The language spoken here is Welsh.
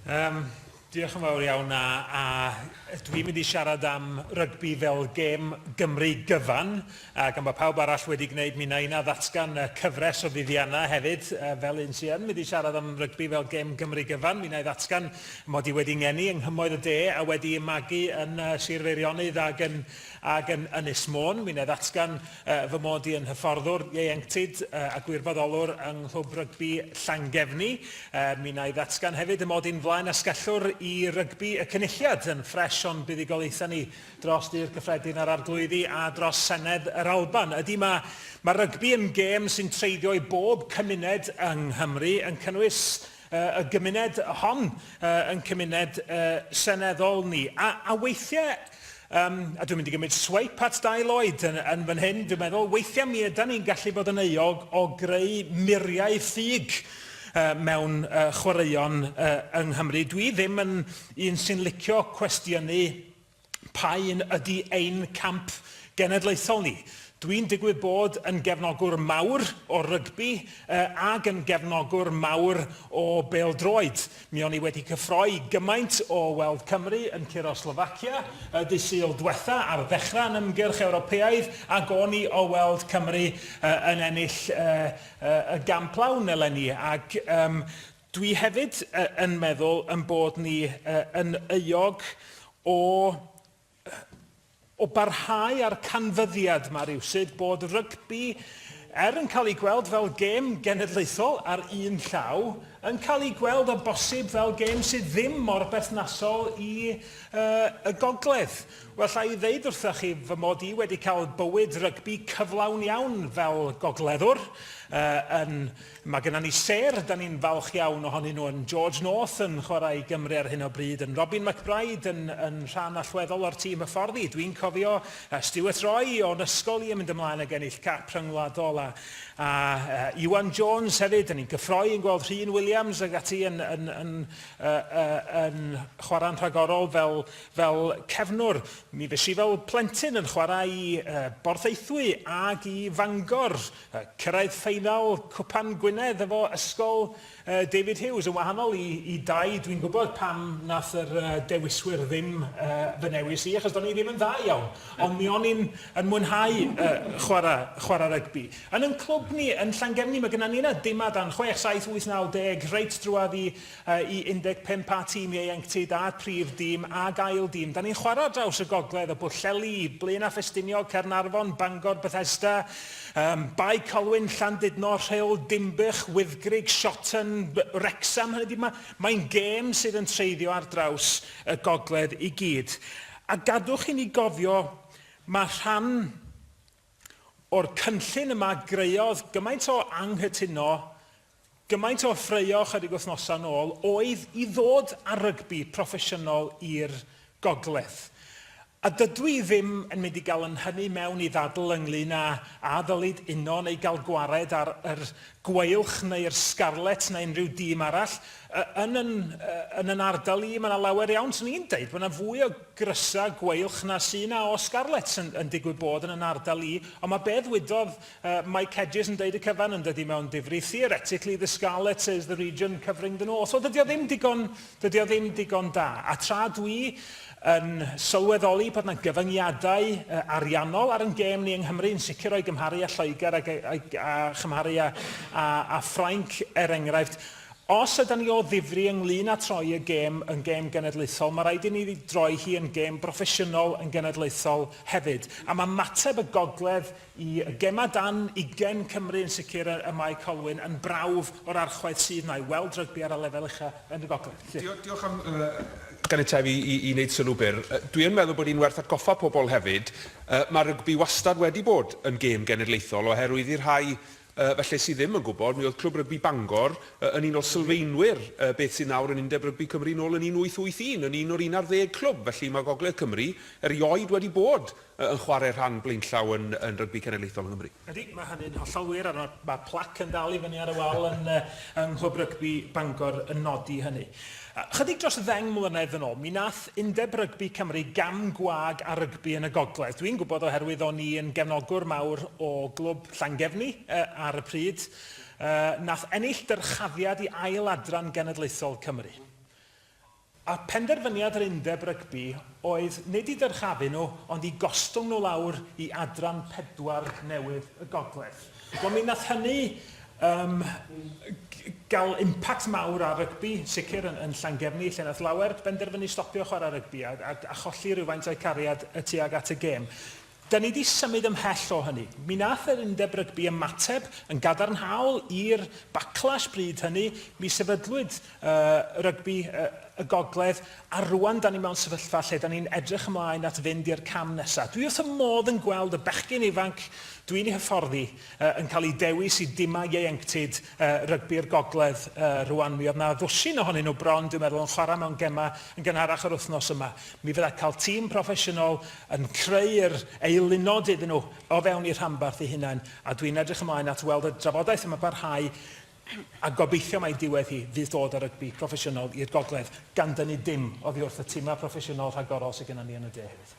Um, diolch yn fawr iawn a, a dwi'n mynd i siarad am rygbi fel gêm Gymru gyfan a gan bod pawb arall wedi gwneud mi na yna ddatgan y cyfres o fuddiannau hefyd fel un sy'n yn mynd i siarad am rygbi fel gêm Gymru gyfan mi na i ddatgan mod i wedi ngeni yng nghymoedd y de a wedi magu yn Sir Feirionnydd ac yn Ac yn Ynys Môn, mi wna i ddatgan fy mod i yn hyfforddwr ieuenctid a gwirfoddolwr yng Nghlwb Rygbi Llangefni. Mi wna i ddatgan hefyd y mod i'n flaen asgellwr i rygbi y Cynulliad yn ffres o'n buddugoliaethau ni dros Dŷ'r Cyffredin a'r Arglwyddi a dros Senedd yr Alban. Ydy, mae ma rygbi yn gêm sy'n treiddio i bob cymuned yng Nghymru, yn cynnwys y gymuned hon yn cymuned seneddol ni. A, a weithiau, um, a dwi'n mynd i gymryd swipe at Dai Lloyd yn, yn fan hyn, dwi'n meddwl, weithiau mi ydan ni'n gallu bod yn euog o greu muriau ffug uh, mewn uh, chwaraeon uh, yng Nghymru. Dwi ddim yn un sy'n licio cwestiynu Pa un ydy ein camp genedlaethol ni? Dwi'n digwydd bod yn gefnogwr mawr o rygbi ag yn gefnogwr mawr o bêl-droed. Mi o'n i wedi cyffroi gymaint o weld Cymru yn curo Slovacia y dydd Sul dwetha ar ddechrau yn ymgyrch Ewropeaidd ag o'n i o weld Cymru yn ennill y gamp lawn eleni ac Dwi hefyd yn meddwl yn bod ni yn euog o o barhau â'r canfyddiad yma rywsut bod rygbi, er yn cael ei gweld fel gêm genedlaethol ar un llaw, yn cael ei gweld o bosib fel gêm sydd ddim mor berthnasol i y gogledd. Wel, alla i ddeud wrthych chi fy mod i wedi cael bywyd rygbi cyflawn iawn fel gogleddwr yn Mae genna ni sêr, da ni'n falch iawn ohonyn nhw, yn George North yn chwarae i Gymru ar hyn o bryd, yn Robin McBryde yn, yn rhan allweddol o'r tîm hyfforddi. Dwi'n cofio uh, Stuart Roy o'n ysgol i yn mynd ymlaen ag ennill cap rhyngwladol a, a uh, Iwan Jones hefyd, da ni'n gyffroi yn gweld Rhun Williams ag ati yn, yn, yn, uh, uh, yn chwarae'n rhagorol fel, fel cefnwr. Mi fes i fel plentyn yn chwarae i uh, Borthaethwy ag i Fangor Cyrraedd ffeinal Cwpan Gwynedd efo Ysgol David Hughes, yn wahanol i, i Dai, dwi'n gwybod pam nath yr uh, dewiswyr ddim uh, fy newis i, achos do'n i ddim yn dda iawn, ond mi o'n i'n yn mwynhau uh, chwarae, chwarae rygbi. Yn yn clwb ni, yn Llangefni, mae gyda ni yna dimad dan 6, 7, 8, 9, 10, reit drwad i i 15 a tîm ieuenctid a'r prif dîm ag ail dîm. Da ni'n chwarae ar draws y gogledd o Bwllheli, Blaenau Ffestiniog, Caernarfon, Bangor, Bethesda, um, Bae Colwyn, Llandudno, Rhyl, Dinbych, Wyddgrug, Shotton, Wrecsam. Hynny ydi, mae'n mae gêm sydd yn treiddio ar draws y gogledd i gyd. A gadwch i ni gofio, mae rhan O'r cynllun yma greodd gymaint o anghytuno, gymaint o ffraeo chydig wythnosau nôl oedd i ddod â rygbi proffesiynol i'r gogledd. A dydw i ddim yn mynd i gael yn hynny mewn i ddadl ynglŷn â a ddylid uno neu gael gwared ar yr Gweilch neu'r Scarlets neu unrhyw dîm arall. Yn yn yn yn ardal i, mae yna lawer iawn, swn i'n deud, mae yna fwy o grysa Gweilch na sy na o Scarlets yn yn digwydd bod yn yn ardal i, ond mae be ddwydodd yy Mike Hedges yn deud y cyfan yn dydi mewn difri, theoretically the Scarlets is the region covering the North. Wel dydi o ddim digon Dydy o ddim digon da. A tra dwi yn sylweddoli bod 'na gyfyngiadau ariannol ar yn gêm ni yng Nghymru, yn sicr o'i gymharu â Lloegr ac a chymharu â â Ffrainc er enghraifft, os ydan ni o ddifri ynglŷn â troi y gêm yn gêm genedlaethol, mae rhaid i ni droi hi yn gêm broffesiynol yn genedlaethol hefyd. A mae mateb y gogledd Y gemau dan ugain Cymru yn sicr y mae Colwyn yn brawf o'r archwaeth sydd na i weld rygbi ar y lefel ucha yn y gogledd. Llŷr. Diolch am ganiatau fi i i wneud sylw byr. Dwi yn meddwl bod hi'n werth atgoffa pobl hefyd, yy ma' rygbi wastad wedi bod yn gêm genedlaethol oherwydd i'r rhai Yy, felly es i ddim yn gwybod, mi oedd Clwb Rygbi Bangor yy yn un o sylfaenwyr yy beth sydd nawr yn Undeb Rygbi Cymru nôl yn 1881, yn un o'r un ar ddeg clwb, felly mae Gogledd Cymru erioed wedi bod yy yn chwarae rhan blaenllaw yn yn Rygbi Cenedlaethol yng Nghymru. Ydy, mae hynny'n hollol wir, a ma' ma' plac yn dal i fyny ar y wal yn yy yng Nghlwb Rygbi Bangor yn nodi hynny. Ychydig dros ddeng mlynedd yn ôl, mi nath Undeb Rygbi Cymru gam gwag ar rygbi yn y gogledd. Dwi'n gwybod oherwydd o'n i yn gefnogwr mawr o glwb Llangefni ar y pryd, nath ennill dyrchafiad i ail adran genedlaethol Cymru. A phenderfyniad yr Undeb Rygbi oedd nid i dyrchafu nhw ond i gostwng nhw lawr i Adran Pedwar newydd y gogledd. Wel mi nath hynny yym ga'l impact mawr ar rygbi, sicr yn yn Llangefni lle nath lawer benderfynu stopio chwara rygbi a a a cholli rywfaint o'u cariad y tuag at y gêm. Da ni 'di symud ymhell o hynny. Mi nath yr Undeb Rygbi ymateb yn gadarnhaol i'r backlash bryd hynny, mi sefydlwyd rygbi y gogledd, a rwan da ni mewn sefyllfa lle da ni'n edrych ymlaen at fynd i'r cam nesaf. Dwi wrth y modd yn gweld y bechgyn ifanc dwi'n ei hyfforddi yn cael eu dewis i dimau ieuenctid rygbi'r gogledd rwan. Mi oedd na ddwsin ohonyn nhw bron, dwi'n meddwl, yn chwarae mewn gemau yn gynharach yr wythnos yma. Mi fydda cael tîm proffesiynol yn creu'r eilunod iddyn nhw o fewn eu rhanbarth eu hunain, a dwi'n edrych ymlaen at weld y drafodaeth yma barhau A gobeithio mai diwedd hi fydd dod â rygbi proffesiynol i'r gogledd, gan dynnu dim oddi wrth y timau proffesiynol rhagorol sydd gennym ni yn y de hefyd.